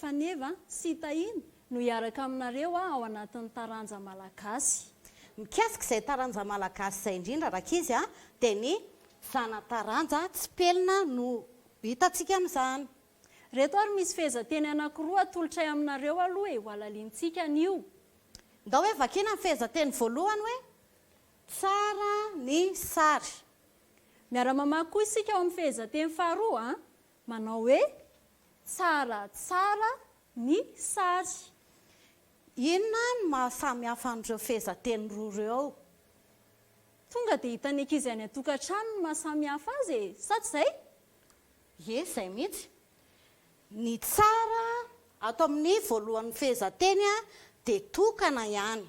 Faneva sy Tahina no hiaraka aminareo aho ao anatin'ny taranja malagasy. Mikasika izay taranja malagasy izay indrindra rankizy a, dia ny zana-taranja tsipelina no hitantsika amin'izany. Ireto ary misy fehezanteny anankiroa atolotray aminareo aloha e, hohalalintsika anio. Ndao hoe vakina ny fehezanteny voalohany hoe tsara ny sary. Miara-mamaky koa isika ao amin'ny fehezanteny faharoa a. Manao hoe, Tsara tsara ny sary. Inona no mahasamihafa an'ireo fehezanteny roa ireo? Tonga dia hitan'ny ankizy any an-tokantrano ny mahasamihafa azy e, sa tsy izay? Ie, izay mihitsy. Ny tsara ato amin'ny voalohan'ny fehezanteny dia tokana ihany.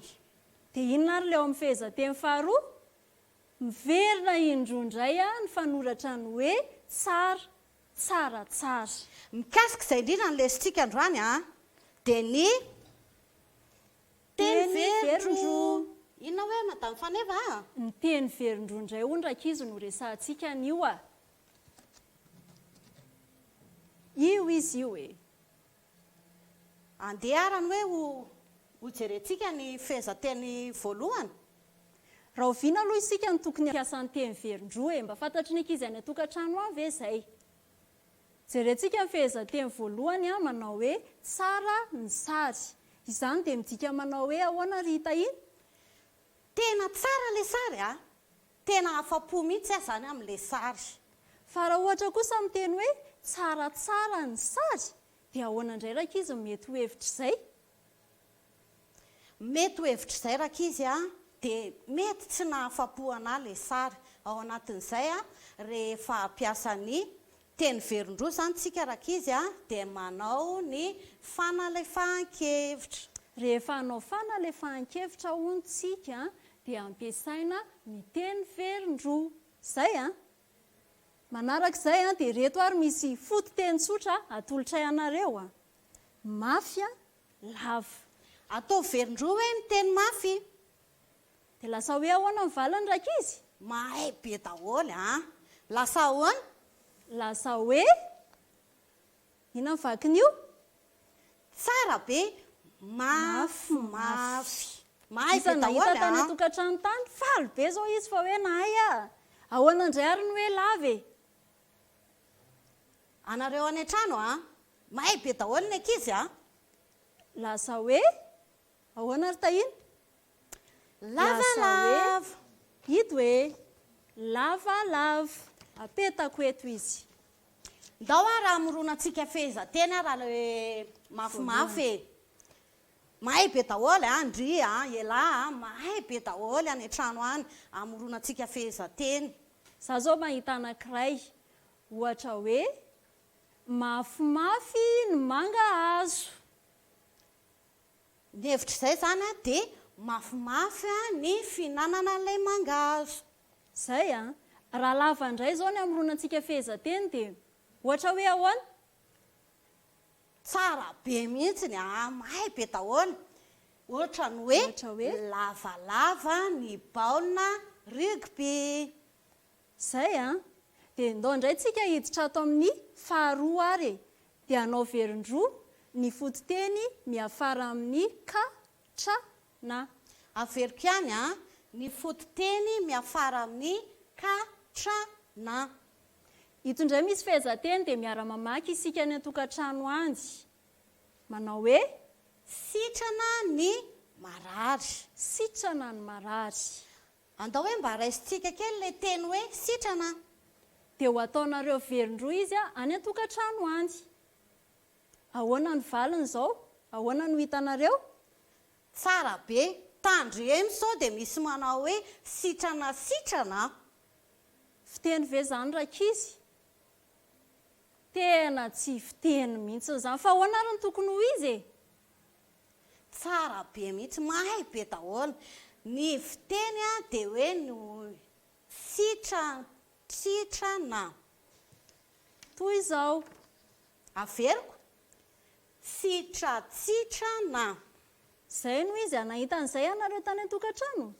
Dia inona ary ilay ao amin'ny fehezanteny faharoa? Miverina indroa indray ny fanoratra ny hoe tsara, tsara, tsara. Mikasika izay indrindra no lesintsika androany dia ny teny verindroa. Inona hoe Madame Faneva a? Ny teny verindroa indray hono rankizy no resahantsika anio a! Io izy io e! Andeha ary any hoe ho ho jerentsika ny fehezanteny voalohany. Rahoviana aloha isika no tokony hampiasa ny teny velondroa e? Mba fantatry ny ankizy any an-tokantrano any ve izay? Jerentsika ny fehezanteny voalohany a, manao hoe tsara ny sary. Izany dia midika manao hoe ahoana ry Tahina? Tena tsara ilay sary a! Tena afa-po mihitsy aho izany amin'ilay sary. Fa raha ohatra kosa miteny hoe tsara tsara ny sary dia ahoana indray rankizy no mety ho hevitr'izay? Mety ho hevitr'izay rankizy a! dia mety tsy nahafa-po anà ilay sary. Ao anatin'izay aho rehefa hampiasa ny Teny Verondroa izany tsika rankizy a, dia manao ny fanalefahan-kevitra. Rehefa hanao fanalefahan-kevitra hono tsika dia ampiasaina ny teny Verondroa. Izay a. Manaraka izay a, dia ireto ary misy fototeny tsotra atolotray anareo a. Mafy a, lava. Ataovy Verondroa hoe ny teny mafy. Dia lasa hoe ahoana ny valiny rankizy? Mahay be daholo an! Lasa ahoana? Lasa hoe inona ny vakin'io? Tsara be, mafy mafy. Mahay be daholo an! Iza nahita tany an-tokantrano tany? Faly be izao izy fa hoe nahay an! Ahoana indray ary ny hoe lava e? Anareo any an-trano an! Mahay be daholo ny ankizy an! Lasa hoe Ahoana ry Tahina? Lavalava! Ito e! Lavalava! Apetako eto izy. Ndao ary hamoronantsika fehezanteny raha le mafimafy e! Mahay be daholo an, ndry an, elah an, mahay be daholo any an-trano any hamoronantsika fehezanteny. Za zao mahita anankiray, ohatra hoe, mafimafy ny mangahazo. Ny hevitr'izay izany dia mafimafy ny fihinanana ilay mangahazo. Izay an! Raha lava indray izao ny hamoronantsika fehezanteny dia ohatra hoe ahoana? Tsara be mihitsy ny an! Mahay be daholo! Ohatra ny hoe, Lavalava ny baolina rugby. Zay an! Dia ndao ndray tsika hiditra ato amin'ny faharoa ary e! Dia anao velondroa ny fototeny miafara amin'ny ka, tra, na. Averiko ihany an! Ny fototeny miafara amin'ny ka, tra, na. Ito ndray misy fehezanteny dia miara-mamaky isika any an-tokantrano any. Manao hoe. Sitrana ny marary. Sitrana ny marary. Andao hoe mba raisintsika kely ilay teny hoe sitrana an! Dia ho ataonareo velon-droa izy any an-tokantrano any. Ahoana ny valiny izao? Ahoana no hitanareo? Tsara be! Tandremo sao dia misy manao hoe sitrana sitrana an! Fiteny ve izany rankizy? Tena tsy fiteny mihitsy izany. Fa ahoana ary no tokony ho izy e? Tsara be mihitsy, mahay be daholo. Ny fiteny dia hoe ny sitrana. Toy izao, averiko, sitratsitrana. Izay no izy, nahita an'izay ianareo tany an-tokantrano?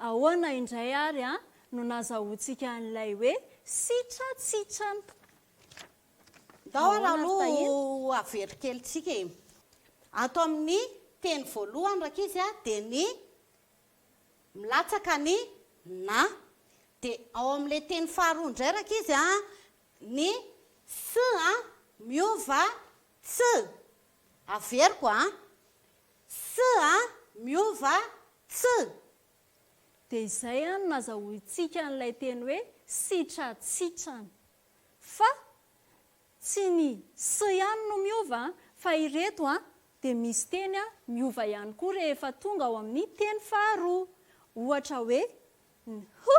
Ahoana indray ary no nazahoantsika an'ilay hoe sitratsitrana? Ndao ary aloha ho averiko kely tsika e. Ato amin'ny teny voalohany rankizy a dia ny milatsaka ny na. Dia ao amin'ilay teny faharoa indray rankizy a, ny sy a miova tsy. Averiko a. Sy a miova tsy. Dia izay an no nazahoantsika an'ilay teny hoe sitratsitrana. Fa tsy ny sy ihany no miova an, fa ireto an dia misy teny an miova ihany koa rehefa tonga ao amin'ny teny faharoa. Ohatra hoe ny h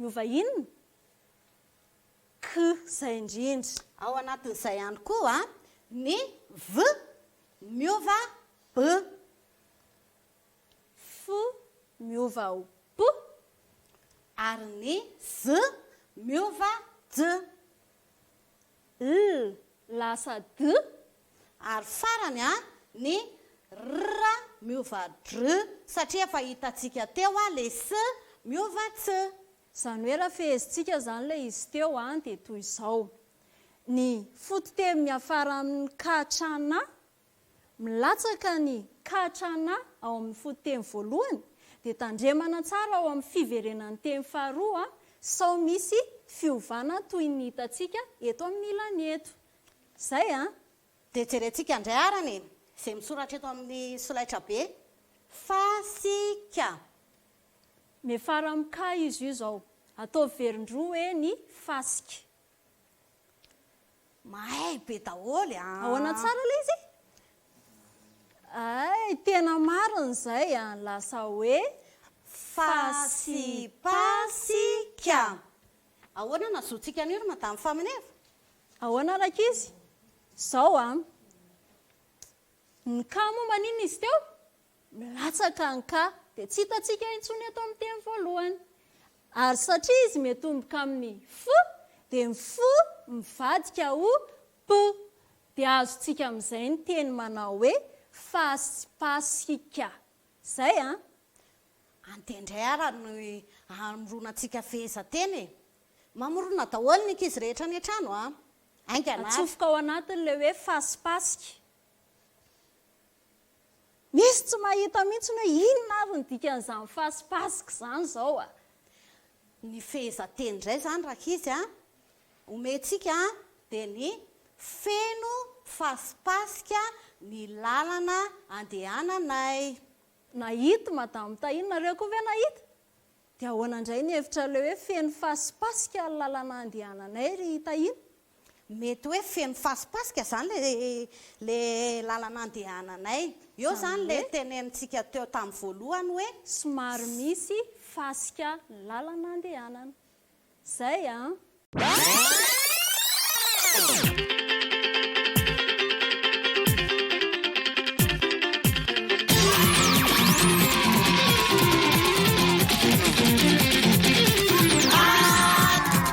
miova inona? K, izay indrindra. Ao anatin'izay ihany koa an, ny v miova b. fo miova ho po ary ny z miova j. L lasa d ary farany a ny r miova dr satria efa hitantsika teo a le s miova ts. Izany hoe raha fehezintsika izany ilay izy teo a dia toy izao, ny fototeny miafara amin'ny ka hatramin'ny a. milatsaka ny Kachana ao amin'ny fototeny voalohany dia tandremana tsara ao amin'ny fiverenan'ny teny faharoa sao misy fiovana toy ny hitantsika eto amin'ny ilany eto. Izay an! Dia jerentsika indray arany e! izay misoratra eto amin'ny solaitrabe. Fasika. Miafara amin'ny ka izy io izao. Ataovy velondroa hoe ny fasika. Mahay be daholo an. Ahoana tsara ilay izy? Hay tena marina izay an, lasa hoe fasipasika. Ahoana no hazoantsika an'io ry Madame Famineva? Ahoana rankizy? Izao an, ny cas moa maninona izy teo? milatsaka ny ka dia tsy hitantsika intsony eto amin'ny teny voalohany. Ary satria izy miatomboka amin'ny F dia ny F mivadika ho P. Dia azontsika amin'izay ny teny manao hoe fasipasika. Izay an! Andeha indray ara ny hamorona antsika fehezanteny e! Mamorona daholo ny ankizy rehetra any an-trano an! Haingana ary. Atsofoka ao anatiny ilay hoe fasipasika. Misy tsy mahita mihitsy hoe inona ary ny dikan'izany fasipasika izany izao a! Ny fehezanteny indray izany rankizy a, omentsika dia ny feno fasipasika ny lalana andehananay. Nahita Madame Tahiana, nareo koa ve nahita? Dia ahoana indray ny hevitrareo hoe feno fasipasika ny lalana andehananay ry Tahiana? Mety hoe feno fasipasika zany le le lalana andehananay. Eo Zany zany le hoe? tenenintsika teo tam voalohany hoe. Somary misy fasika lalana andehanana. Zay an!